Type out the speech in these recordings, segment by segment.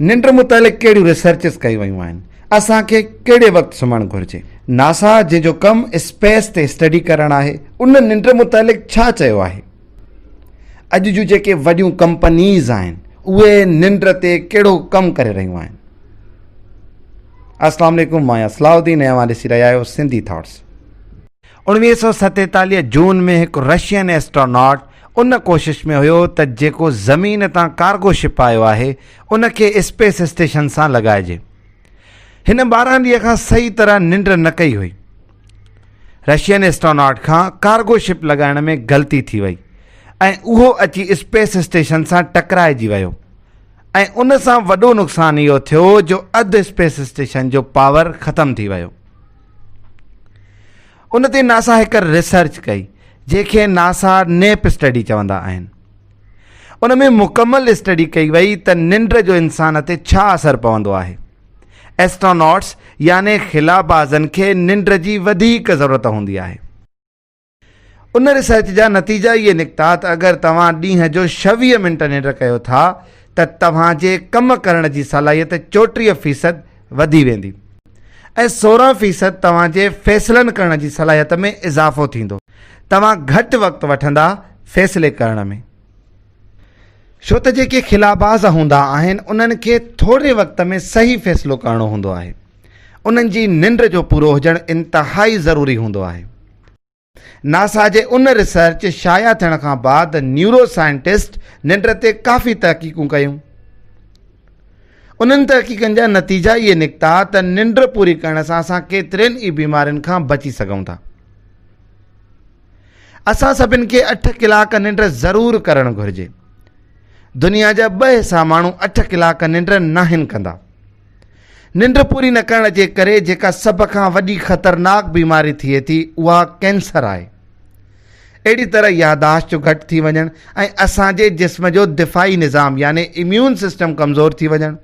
ننڊ متعلق ڪهڙيون ريسرچز ڪيون ويون آهن؟ اسان کي ڪهڙي وقت سمهڻ گهرجي؟ ناسا جنهن جو ڪم اسپيس تي اسٽڊي ڪرڻ آهي ان ننڊ متعلق ڇا چيو آهي؟ اڄ جون جيڪي وڏيون ڪمپنيز آهن اهي ننڊ تي ڪهڙو ڪم ڪري رهيون آهن؟ السلام عليڪم مان آهيان صلاح الدين ۽ اوهان ڏسي رهيا آهيو سنڌي ٿاٽس. اوڻويهه سؤ ستيتاليهه جون ۾ هڪ رشين ايسٽراناٽ ان ڪوشش ۾ هيو ته جيڪو زمين تان ڪارگو شپ آيو آهي ان کي اسپيس اسٽيشن سان لڳائجي. هن ٻارهن ڏينهن کان صحيح طرح ننڊ نه ڪئي هئي. رشين ايسٽراناٽ کان ڪارگو شپ لڳائڻ ۾ غلطي ٿي وئي ۽ اهو اچي اسپيس اسٽيشن سان ٽڪرائجي ويو ۽ ان سان وڏو نقصان اهو ٿيو جو اڌ اسپيس اسٽيشن جو پاور ختم ٿي ويو. ان تي ناسا هڪ ريسرچ ڪئي جنهن کي ناسا نيپ اسٽڊي چوندا آهن ان ۾ مڪمل اسٽڊي ڪئي وئي ته ننڊ جو انسان تي ڇا اثر پوندو آهي ايسٽروناٽس يعني خلابازن کي ننڊ جي وڌيڪ ضرورت هوندي آهي ان ريسرچ جا نتيجا اهي نڪتا ته اگر توهان ڏينهن جو ڇويهه منٽ ننڊ ڪيو ٿا ته توهان جي ڪم ڪرڻ جي صلاحيت چوٽيهه فيصد وڌي ويندي ۽ سورهن فيصد توهان جي فيصلن ڪرڻ جي صلاحيت ۾ اضافو ٿيندو توهان گهٽ وقت وٺندا فيصلي ڪرڻ ۾ ڇو ته جيڪي خلاباز هوندا آهن انهن کي ٿوري وقت ۾ صحيح فيصلو ڪرڻو هوندو آهي انهن جي ننڊ جو پورو هجڻ انتهائي ضروري هوندو آهي ناسا جي ان ريسرچ شايع ٿيڻ کان بعد نيورو سائنٽسٽ ننڊ تي ڪافي تحقيقون ڪيون. انهن تحقيقن جا نتيجا اهي نڪتا ته ننڊ پوري ڪرڻ سان اسان ڪيترين ئي بيمارين کان بچي سگهون ٿا. اسان سڀن کي اٺ ڪلاڪ ننڊ ضرور ڪرڻ گهرجي. دنيا جا ٻه حصا ماڻهو اٺ ڪلاڪ ننڊ ناهن ڪندا. ننڊ پوري نه ڪرڻ جي ڪري جيڪا سڀ کان وڏي خطرناڪ بيماري ٿئي ٿي اها ڪينسر آهي. اهڙي طرح ياداشت جو گهٽ ٿي وڃڻ ۽ اسان جي جسم جو دفاعي نظام يعني اميون سسٽم ڪمزور ٿي وڃڻ.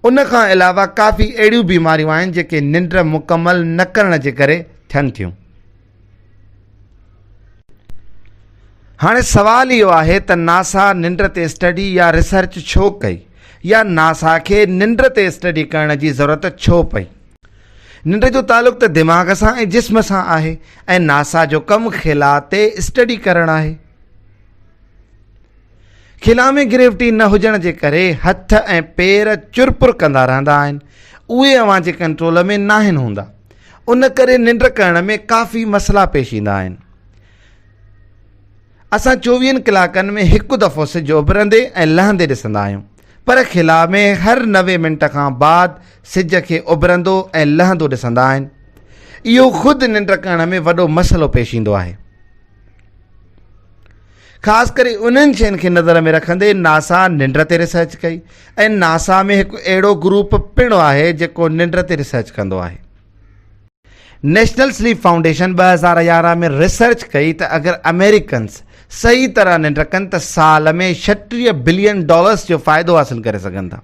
ان کان علاوه ڪافي اهڙيون بيماريون آهن جيڪي ننڊ مڪمل نه ڪرڻ جي ڪري ٿين ٿيون. هاڻي سوال اهو آهي ته ناسا ننڊ تي اسٽڊي يا ريسرچ ڇو ڪئي يا ناسا کي ننڊ تي اسٽڊي ڪرڻ جي ضرورت ڇو پئي ننڊ جو تعلق ته دماغ سان ۽ جسم سان آهي ۽ ناسا جو ڪم خلا تي اسٽڊي ڪرڻ آهي خلا ۾ گريوٽي نه هجڻ جي ڪري هٿ ۽ پير چرپر ڪندا رهندا آهن. اهي اوهان جي ڪنٽرول ۾ ناهن هوندا. ان ڪري ننڊ ڪرڻ ۾ ڪافي مسئلا پيش ايندا آهن. اسان چوويهن ڪلاڪن ۾ هڪ دفعو سج اڀرندي ۽ لهندي ڏسندا آهيون. پر خلا ۾ هر نوي منٽ کان بعد سج کي اڀرندو ۽ لهندو ڏسندا آهن. اهو خود ننڊ ڪرڻ ۾ وڏو مسئلو پيش ايندو آهي. خاص ڪري انهن شين کي نظر ۾ رکندي ناسا ننڊ تي ريسرچ ڪئي ۽ ناسا ۾ هڪ اهڙو گروپ پڻ آهي جيڪو ننڊ تي ريسرچ ڪندو آهي نيشنل سليپ فائونڊيشن ٻه هزار يارهن ۾ ريسرچ ڪئي ته اگر امريڪنس صحيح طرح ننڊ ڪن ته سال ۾ ڇٽيهه بلين ڊالرس جو فائدو حاصل ڪري سگهن ٿا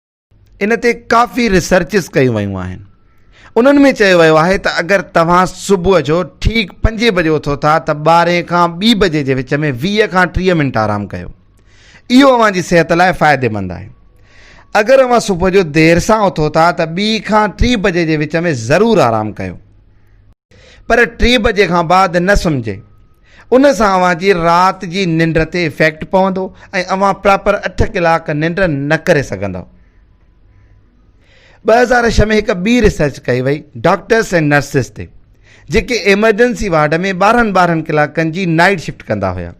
ان تي ڪافي ريسرچز ڪيون ويون آهن انهن ۾ چيو ويو آهي ته اگر توهان صبح جو ٺيڪ پنجي بجي اٿو ٿا ته ٻارهين کان ٻي بجي جي وچ ۾ ويهه کان ٽيهه منٽ آرام ڪيو اهو اوهان جي صحت لاء فائديمند آهي اگر اوهان صبح جو دير سان اٿو ٿا ته ٻي کان ٽي بجي جي وچ ۾ ضرور آرام ڪيو پر ٽي بجي کان بعد نه سمجهي ان سان اوهان جي رات جي ننڊ تي افيڪٽ پوندو ۽ اوهان پراپر اٺ ڪلاڪ ننڊ نه ڪري سگهندو ٻه هزار ڇهه ۾ هڪ ٻي ريسرچ ڪئي وئي ڊاڪٽرس ۽ نرسز تي جيڪي ايمرجنسي وارڊ ۾ ٻارهن ٻارهن ڪلاڪن جي نائيٽ شفٽ ڪندا هيا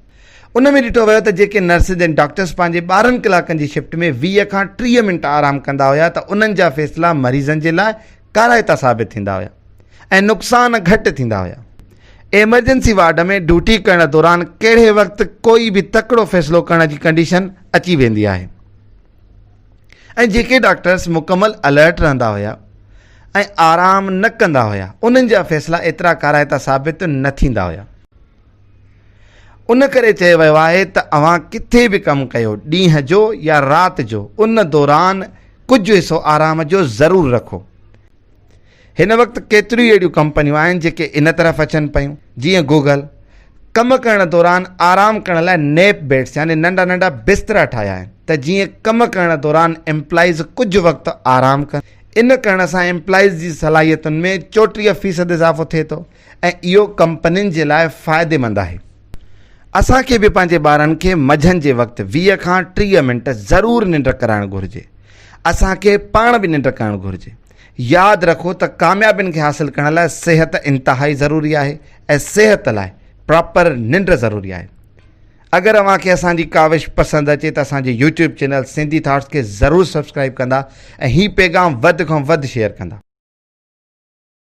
ان ۾ ڏٺو ويو ته جيڪي نرسز ۽ ڊاڪٽرس پنهنجي ٻارهن ڪلاڪن جي شفٽ ۾ ويهه کان ٽيهه منٽ آرام ڪندا هيا ته انهن جا فيصلا مريضن جي لاء ڪارائتا ثابت ٿيندا هيا ۽ نقصان گهٽ ٿيندا هيا ايمرجنسي وارڊ ۾ ڊيوٽي ڪرڻ دوران ڪهڙي وقت ڪوئي به تڪڙو فيصلو ڪرڻ جي ڪنڊيشن اچي ويندي آهي ۽ جيڪي ڊاڪٽرس مڪمل الرٽ رهندا هيا ۽ آرام نه ڪندا هيا انهن جا فيصلا ايترا ڪارائتا ثابت نه ٿيندا هيا ان ڪري چيو ويو آهي ته اوهان ڪٿي به ڪم ڪيو ڏينهن جو يا رات جو ان دوران ڪجهه حصو آرام جو ضرور رکو هن وقت ڪيتريون اهڙيون ڪمپنيون آهن جيڪي ان طرف اچن پيون جيئن گوگل ڪم ڪرڻ دوران آرام ڪرڻ لاء نيپ بيڊس يعني ننڍا ننڍا بسترا ٺاهيا آهن ته جيئن ڪم ڪرڻ دوران امپلائيز ڪجهه وقت آرام ڪن ان ڪرڻ سان امپلائيز جي صلاحيتن ۾ چوٽيهه فيصد اضافو ٿئي ٿو ۽ اهو ڪمپنين جي لاء فائديمند آهي. اسان کي به پنهنجي ٻارن کي مجهن جي وقت ويهه کان ٽيهه منٽ ضرور ننڊ ڪرائڻ گهرجي. اسان کي پاڻ به ننڊ ڪرڻ گهرجي. ياد رکو ته ڪاميابين کي حاصل ڪرڻ لاء صحت انتهائي ضروري آهي ۽ صحت لاء پراپر ننڊ ضروري آهي. اگر اوهان کي اسان جي ڪاوش پسند اچي ته اسان جي يوٽيوب چينل سنڌي ٿاٽس کي ضرور سبسڪرائب ڪندا ۽ هي پيغام وڌ کان وڌ شيئر ڪندا.